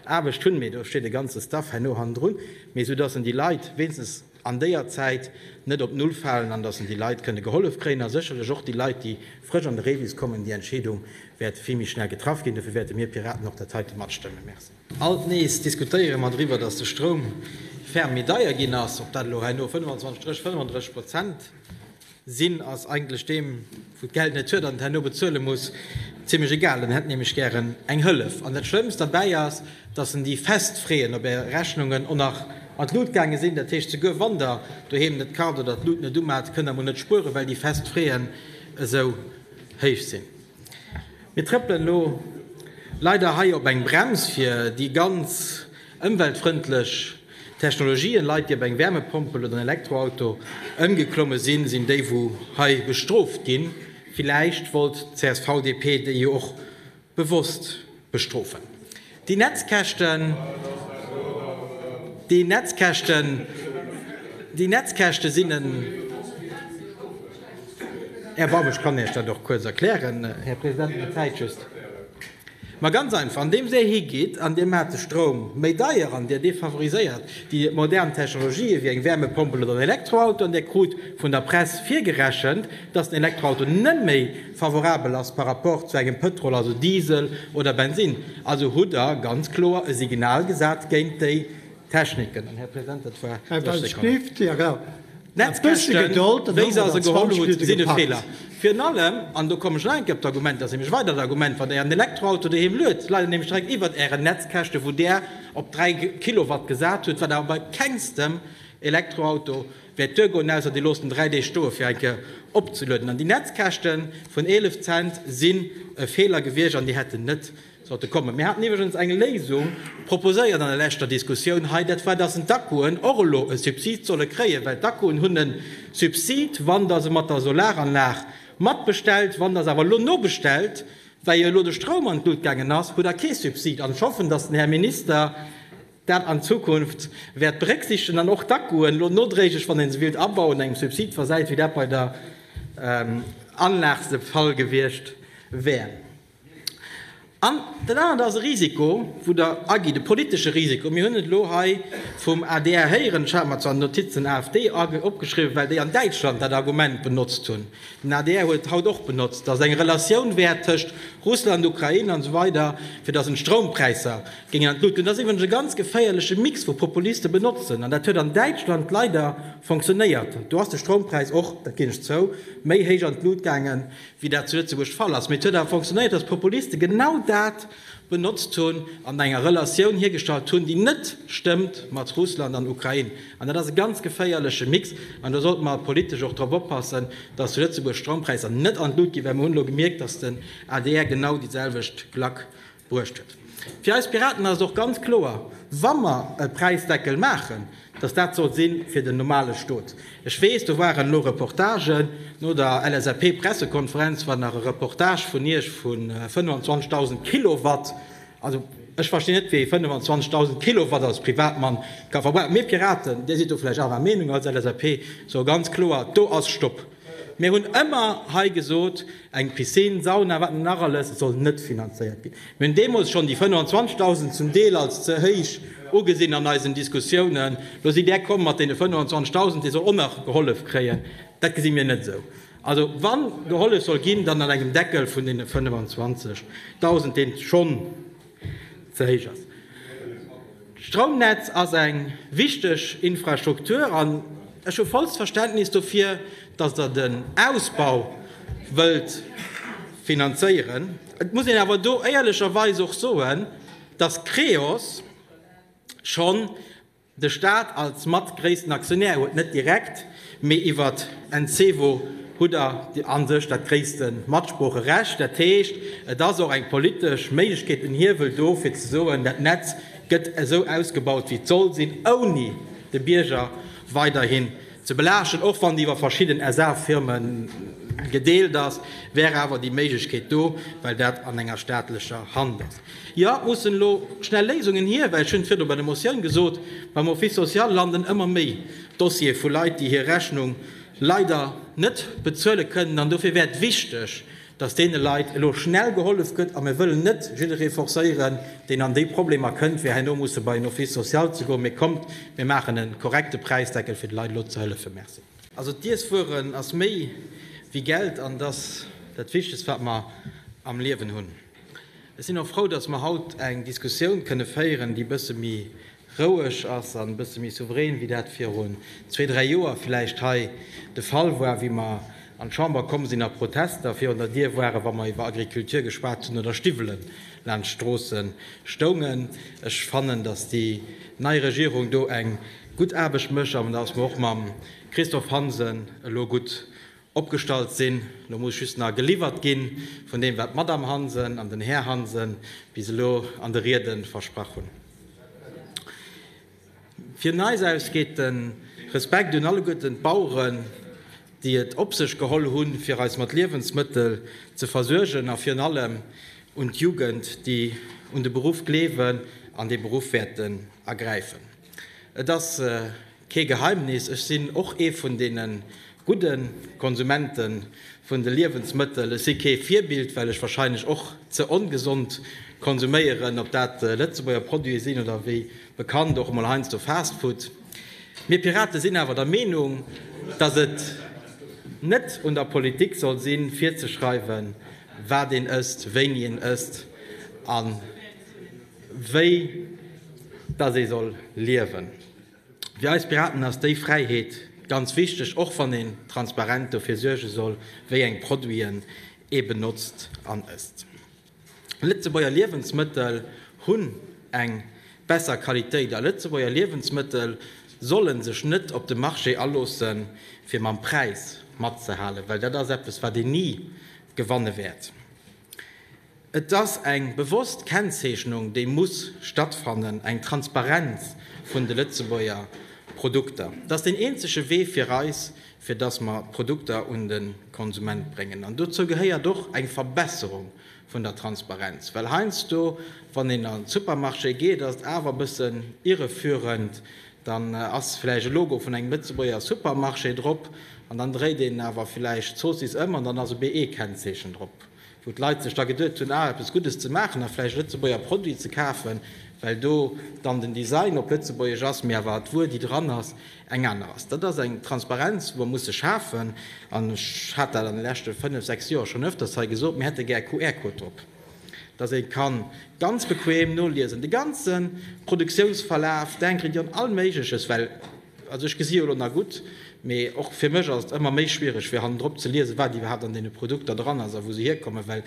Aarbecht hunn, mee do steet e ganze Staff herno hannendrun, mee esou dass en déi Leit wéinstens an déier Zäit net op Null falen an dass en déi Leit kënne gehollef kréien a sécherlech och déi Leit, déi frësch an de Rebis kommen, déi Entscheedung wäert vill méi schnell getraff ginn. Dofir wäerte mir Piraten och dat heite matstëmmen. Merci. Alt nees diskutéiere mer driwwer, datt de Stroum ferm méi deier ginn ass. Ob dat elo hei no 25 Strich 35 Prozent sinn, ass eigentlech deem, wou d'Geld net huet an et herno bezuele muss, zimlech egal. En hätt nämlech gären eng Hëllef. An dat Schlëmmst derbäi ass, datt en déi fest Freeën op Är Rechnungen och nach an d'Lut gaange sinn. Dat heescht, souguer wann Der doheem net kart oder d'Lut net umat, kënnt Der mol net spueren, well déi fest Freeën esou héich sinn. Mir trëppelen elo leider hei op eng Brems fir déi ganz ëmweltfrëndlech Technologien. Leit déi op eng Wärmepompel oder en Elektroauto ëmgeklomme sinn, sinn déi wou hei bestrooft ginn. Villäicht wollt d'CSV-DP déi jo och bewosst Bestrofen. Déi Netzkäschten, déi Netzkäschten, déi Netzkäschte sinn en Erbarmen. Ech kann Iech dat och kuerz erklären, Här President, mä d'Zäit just. Ma ganz einfach, andeems Dir higeet an Dir maacht de Stroum méi deier an Dir defavoriséiert déi modern Technologië wéi eng Wärmepompel oder en Elektroauto an Dir krut vun der Press virgerechent, dass den Elektroauto net méi, Favorabel ass par rapport zu engem Pëtrol, also Diesel oder Bensinn. Also hutt Der ganz kloer e Signal gesat géint déi Techniken. An, Här President, dat war 30 Sekonnen. D'Netzkäschten, wéi se se geholl hutt, sinn e Feeler. Virun allem, an do kommen ech nach eng Kéier op d'Argument, dat ass nämlech e weidert Argument, wann Der Ären Elektroauto doheem luet, leit Der nämlech direkt iwwert Ären Netzkäschte wou Der op 3 Kilowatt gesat hutt, wat awer bei kengstem Elektroauto Wäert duer goen, ausser dir loosst en 3 Deeg stoe fir eng Kéier opzelueden. An déi Netzkäschte vun 11 Cent sinn e Feeler gewiescht an déi hätten net sollte kommen. Mir haten iwwregens eng Léisung proposéiert an der leschter Diskussioun hei, dat war, datt d'Akkuen och elo e Subsid solle kréien, well d'Akkuen hunn e Subsid, wann Der se mat der Solaranlag matbestellt. Wann Der se awer elo nobestellt, well jo elo de Stroum an d'Lut gaangen ass, hutt Der kee Subsid. An ech hoffen, datt den Här Minister, dat an Zukunft wäert berécksiichtegen an och d'Akkuen elo nodréiglech, wann ee se willt abauen, engem Subsid versäit, wéi dat bei der Anlag de Fall gewiescht wär. An dat anert ass e Risiko, wou Der agitt, e politesche Risiko. Mir hunn et elo hei vum adr héieren, ech hat mer zwar d'Notiz den AfD opgeschriwwen, well déi an Däitschland dat Argument benotzt hunn, den adr huet et haut och benotzt, datt et eng Relatioun wär tëscht Russland, Ukrain an esou weider, fir datt een d'Stroumpräisser Géing an d'Luut. Deen ass iwwregens e ganz geféierleche Mix wou Populiste benotzen, an dat huet an Däitschland leider fonctionnéiert. Do ass de Stroumpräis och, dat ginn ech zou, méi héich an d'Luut gaangen, wéi dat zu Lëtzebuerg de Fall ass, mee et huet awer fonctionnéiert, dass d'Populiste genau dat benotzt hunn an enger Relatioun hiergestallt hunn, déi net stëmmt mat Russland an Ukrain. An dat ass e ganz geféierleche Mix, an do sollte mer politesch och drop oppassen, dass zu Lëtzebuerg d'Stroumpräisser net an d'Luut ginn, well mer hunn elo gemierkt, dass den adr genau déi selwecht Klack Bruecht huet. Fir eis Piraten ass et och ganz kloer, wa mer e Präisdeckel maachen, datt dat soll si fir den normale Stot. Ech weess, do waren elo Reportagen no der LSAP-Pressekonferenz, war nach e Reportage vun Iech vu 25.000 Kilowatt. Also, ech verstinn net, wéi ee 25.000 Kilowatt als Privatmann ka verbrauchen. Mir Piraten, Dir sidd do vläicht anerer Meenung als LSAP, soe ganz kloer, do ass Stopp! Mir hunn ëmmer hei gesot, eng Piscine, Sauna, wat net nach alles, soll net finanzéiert ginn. Mir hunn deemools schonn déi 25.000 zum Deel als ze héich ugesinn an eisen Diskussiounen. Lo sidd Där komm mat deene 25.000, dee soll och nach gehollef kréien. Dat gesi mir net esou. Also wa gehollef soll ginn, dann an engem Deckel vun deene 25.000, dee schonn, ze héich ass. D'Stroumnetz ass eng wichteg Infrastruktur an ech hu vollst Verständnis dofir, datt Der den Ausbau wëllt finanzéieren. Et muss een awer do éierlecherweis och soen, datt Creos schonn De Staat als mat gréissten Aktionär huet net direkt, mee iwwert Encevo hutt Der a sech dat gréisste Matsproocherecht. Dat heescht, et ass och eng politesch Méiglechkeet, en Hiewel do, fir ze soen, dat Netz gëtt esou ausgebaut, wéi et soll sinn, ouni de Bierger weiderhin ze belaaschten. Och wann déi iwwer verschidden SA-Firme gedeelt ass, wär awer déi Méiglechkeet do, well dat an enger staatlecher Hand ass. Jo, et mussen elo schnell Léisungen hier, well, ech hunn et virdu bei der Motioun gesot, beim Office social landen ëmmer méi Dossiere vu Leit, déi hir Rechnung leider net bezuele kënnen. An dofir wär et wichteg, dass deene Leit elo schnell gehollef gëtt. A mir wëllen net jidderee forcéieren, deen an déi Problemer kënnt, fir herno musse bei en Office social ze goen. Mee kommt, mir maachen e korrekte Präisdeckel, fir de Leit elo ze hëllefen. Merci. Also d'Iesswueren ass méi wéi Geld an et ass dat Wichtegst, wat mer am Liewen hunn. Ech sinn och frou, dass mer haut eng Diskussioun kënne féieren, déi e bësse méi roueg ass an e bësse méi souverän, wéi dat virun zwee, dräi Joer vläicht hei de Fall war, wéi mer an d'Chamber komm sinn a Protester virun der Dier waren, wa mer iwwer Agriculture geschwat hunn oder Stiwwelen laanscht d'Stroosse stoungen. Ech fannen, dass déi nei Regierung do eng gutt Aarbecht mécht an dass mer och mam Christophe Hansen elo gutt opgestallt sinn. Elo muss just nach geliwwert gi vun deem, wat d'Madame Hansen an den Här Hansen bis elo an de Riede versprach hunn. Vun eis aus geet de Respekt un alleguerten d'Baueren, déi et op sech geholl hunn, fir eis mat Liewensmëttel ze versuergen, a virun allem un d'Jugend, déi un de Beruff gleewen an dee Beruff wäerten ergräifen. Et ass. Kee Geheimnis, ech sinn och ee vun deene gudde Konsumente vun de Liewensmëttel. Ech si kee Virbild, well ech wahrscheinlech och ze ongesond konsuméieren, ob dat Lëtzebuerger Produite sinn oder wéi bekannt och emol heiansdo Fastfood. Mir Pirate sinn awer der Meenung, datt et net un der Politik soll sinn, virzeschreiwen, wat een ësst, wéini een ësst a wéi datt ee soll liewen. Fir eis Piraten ass déi Fräiheet ganz wichteg, och wann een transparent dofir suerge soll, wéi eng Produiten ee benotzt an ësst. Lëtzebuerger Liewensmëttel hunn eng besser Qualitéit a Lëtzebuerger Liewensmëttel solle sech net op de Marché aloosse fir mam Präis matzehalen, well dat ass eppes wat een ni gewanne wäert. Et ass eng bewosst Kennzeechnung, déi muss stattfannen, eng Transparenz vun de Lëtzebuerger Produkter. Et ass deen eenzege Wee fir eis, fir dass mer d'Produkter un de Konsument bréngen. An dozou gehéiert och eng Verbesserung vun der Transparenz. Well heiansdo, wann een an de Supermarché geet, ass et awer e bëssen irreführend, Dann ass villäicht e Logo vun engem Lëtzebuerger Supermarché drop an dann dréit een awer villäicht d'Zoossiss ëm an dann ass e BE-Kennzeechen drop, wou d'Leit sech da geduet hunn, ah, eppes Guddes ze maachen a villäicht e Lëtzebuerger Produit ze kafen, well do dann den Design op Lëtzebuergesch ass, mee awer d'Wuer, déi dran ass, eng aner ass. Dat ass eng Transparenz, wou mer musse schafen an ech hat dat an de leschte fënnef, sechs Joer schonn öfters hei gesot, mir hätte gär QR-Code drop. dass ee ka ganz bequem noliesen, de ganze Produktiounsverlaf, denken dir un all Méigleches, well, also ech gesi jo elo nach gutt, mee och fir mech ass et ëmmer méi schwiereg, fir hannendrop ze liesen, wat iwwerhaapt an deene Produkter dran ass a wou se hierkommen, well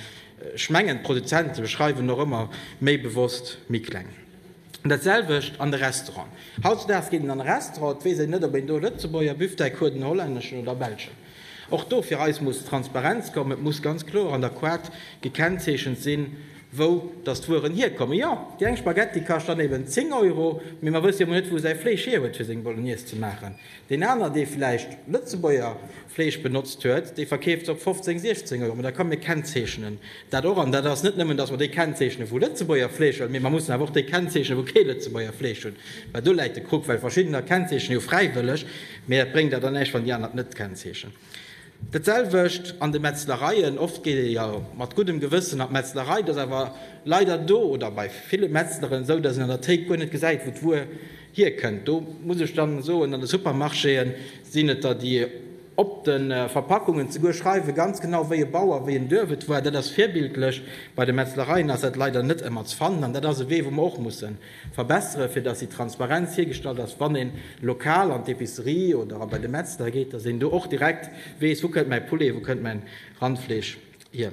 ech mengen, d'Produzente schreiwen och ëmmer méi bewosst méi kleng. Dat selwecht an de Restaurant. Hautzedaags geet een an e Restaurant, et weess een net, ob een do e Lëtzebuerger Büfteck huet, en hollänneschen oder e belschen. Och do fir eis muss Transparenz kommen. Et muss ganz kloer an der Koart gekennzeechent sinn, wou datt d'Wueren hierkommen. Jo, déi eng Spaghetti kascht dann eben 10 Euro, mee mer wësse jo emol net, wou säi Fleesch hierhuet, fir seng Bolognese ze maachen. Deen aner, dee vläicht Lëtzebuerger Fleesch benotzt huet, dee verkeeft se op 15, 16 Euro. Mä da kommen, mir kennzeechnen dat och. An dat ass net nëmmen, datt mer déi kennzeechnen, wou Lëtzebuerger Fleesch hunn, mee mer mussen awer och déi kennzeechnen, wou kee Lëtzebuerger Fleesch hunn. Well do läit de Krux, well verschiddener kennzeechnen jo fräiwëlleg, mee dat bréngt der dann näischt, wann déi aner et net kennzeechnen. Dat selwecht an de Metzlereien. Oft geet ee jo mat guddem Gewëssen an d'Metzlerei. Et ass awer leider do oder bei ville Metzleren esou, datt een an der Théik guer net gesäit, wou d'Wuer hierkënnt. Do muss ech da soen, an de Supermarchéë sinn et der, déi op de Verpackungen zeguer schreiwen, ganz genau wéi e Bauer, wéi en Duerf et war. Dat ass virbildlech. Bei de Metzlereien ass dat leider net ëmmer ze fannen. An dat ass e Wee, wou mer och mussen Verbessere fir dass déi Transparenz hiergestallt ass, wann een lokal an d'Epicerie oder a bei de Metzler geet, dass een do och direkt weess, wou kënnt mäi Poulet, wou kënnt mäin Randfleesch hier.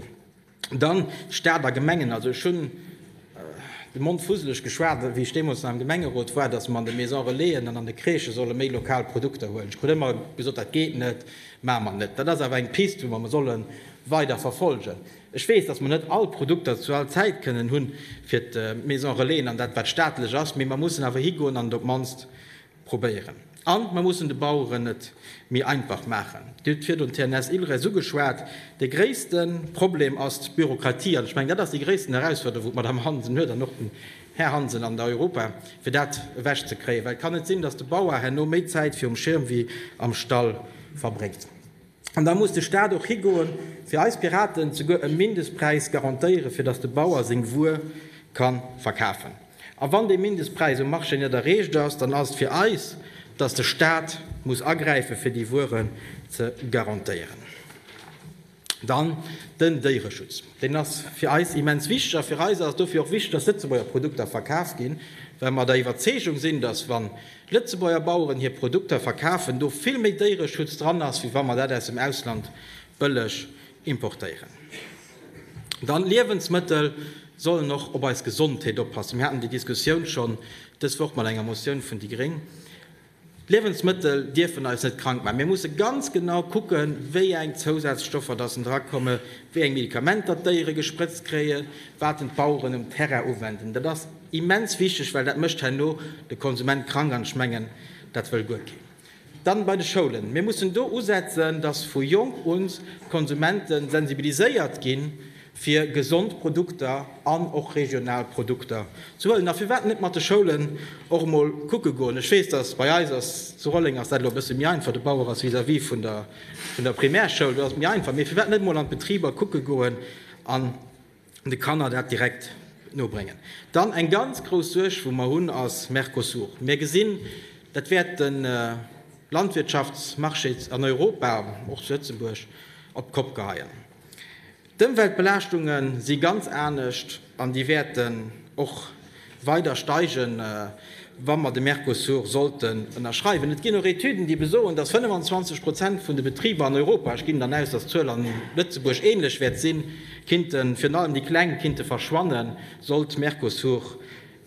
Dann Staat a Gemengen, also ech hunn de Mond fusseleg geschwat wéi ech deemools nach am Gemengerot war, dass mer an de Maison Relaisen an an de Crèchë solle méi lokal Produkter huelen. Ech krut ëmmer gesot, dat geet net, maache mer net. Dat ass awer eng Piste wou mer solle weider verfolgen. Ech weess, dass mer net all Produkter zu all Zäit kënnen hu fir d'Maison Relaisen an dat wat staatlech ass, mee mer mussen awer higoen an et op d'mannst probéieren. An mer mussen de Baueren et méi einfach maachen. Dir hutt virdrun d'TNS Ilres ugeschwat. De gréisste Problem ass d'Bürokratie an ech mengen, dat ass déi gréissten Herausforderung, wou d'Madame Hansen huet an och den Här Hansen an der Europa, fir dat ewech ze kréien, well et kann net sinn, dass de Bauer herno méi Zäit virum Schirm wéi am Stall verbréngt. An da muss de Staat och higoe fir eis Piraten souguer e Mindestpräis garantéiere fir datt de Bauer seng Wuer ka verkafen. A wann dee Mindestpräis um Marché net erreecht ass, dann ass et fir eis, datt de Staat muss agräife fir déi Wueren ze garantéieren. Dann den Déiereschutz. Deen ass fir eis immens wichteg. A fir eis ass et dofir och wichteg, datt Lëtzebuerger Produkter verkaf ginn, well mer der Iwwerzeegung sinn, datt wann Lëtzebuerger Baueren hir Produkter verkafen, do vill méi Déiereschutz dran ass, wéi wa mer dat aus dem Ausland bëlleg importéieren. Dann, Liewensmëttel sollen och op eis Gesondheet oppassen. Mir haten déi Diskussioun schonn dës Woch mat enger Motioun vun déi Gréng. D'Liewensmëttel dierfen eis net krank maachen. Mir musse ganz genau kucken, wéi eng Zousazstoffer datt en dra komme, wéi eng Medikamenter d'Déiere gesprëtzt kréien, wat en d'Baueren um Terrain uwenden. Immens wichteg, well dat mécht herno de Konsument krank, an ech mengen, dat wëll guer keen. Dann bei de Schoulen. Mir mussen do usetzen, dass vu jonk un d'Konsumente sensibiliséiert ginn, fir gesond Produkter an och regional Produkter ze huelen. A firwat net mat de Schoulen och emol kucke goen? Ech weess, dass bei eis ass, zu Rolleng ass dat elo e bësse méi einfach, de Bauer ass vis-à-vis vun der Primärschoul, do ass et méi einfach, mee firwat net emol an d'Betriber kucke goen an de Kanner dat direkt nobréngen. Dann eng ganz grouss Suerg, wou mer hunn, ass Mercosur. Mir gesinn, dat wäert de Landwirtschaftsmarché an Europa, och zu Lëtzebuerg, op d'Kopp geheien. D'Ëmweltbelaaschtunge si ganz anescht an déi wäerten och Weider steigen, wa mer de Mercosur sollten ënnerschreiwen. Et ginn och Etüden, déi besoen, dass 25 Prozent vun de Betriber an Europa, ech ginn dann aus, dass d'Zuel an Lëtzebuerg ähnlech wäert sinn, kinnten, virun allem déi Kleng, kinnte verschwannen, sollt Mercosur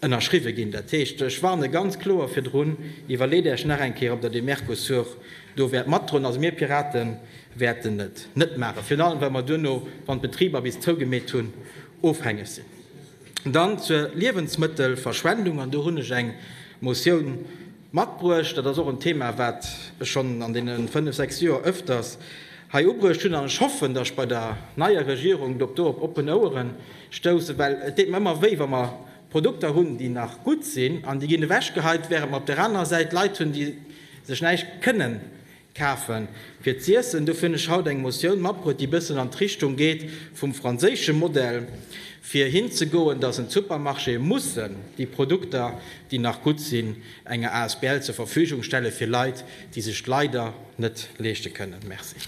ënnerschriwwe ginn. Dat heescht, ech warne ganz kloer virdrun, Iwwerleet Äech nach eng Kéier, ob Der dee Mercosur do wäert matdroen. Also mir Pirate wäerten et net maachen, virun allem, well mer duerno, wann d'Betriber bis zougemeet hunn, ofhängeg sinn. Dann zur Liewensmëttelverschwendung, an do hunn ech eng Motioun matbruecht. Dat ass och en Thema, wat ech schonn an deene fënnf, sechs Joer öfters hei ubruecht hunn, an ech hoffen, datt ech bei der neier Regierung do op oppen Ouere stoussen, well et deet mer ëmmer wéi, wa mer Produkter hunn, déi nach gutt sinn, an déi ginn ewechgeheit, während mer op där anerer Säit Leit hunn, déi sech näischt kënnen Kafen fir z'iessen. Dofir hunn ech haut eng Motioun matbruet, déi bëssen an d'Richtung geet vum franséische Modell, fir hinzegoen, dass en d'Supermarchéë mussen déi Produkter, déi nach gutt sinn, enger Asbl zur Verfügung stelle fir Leit, déi sech leider net leeschte kënnen. Merci.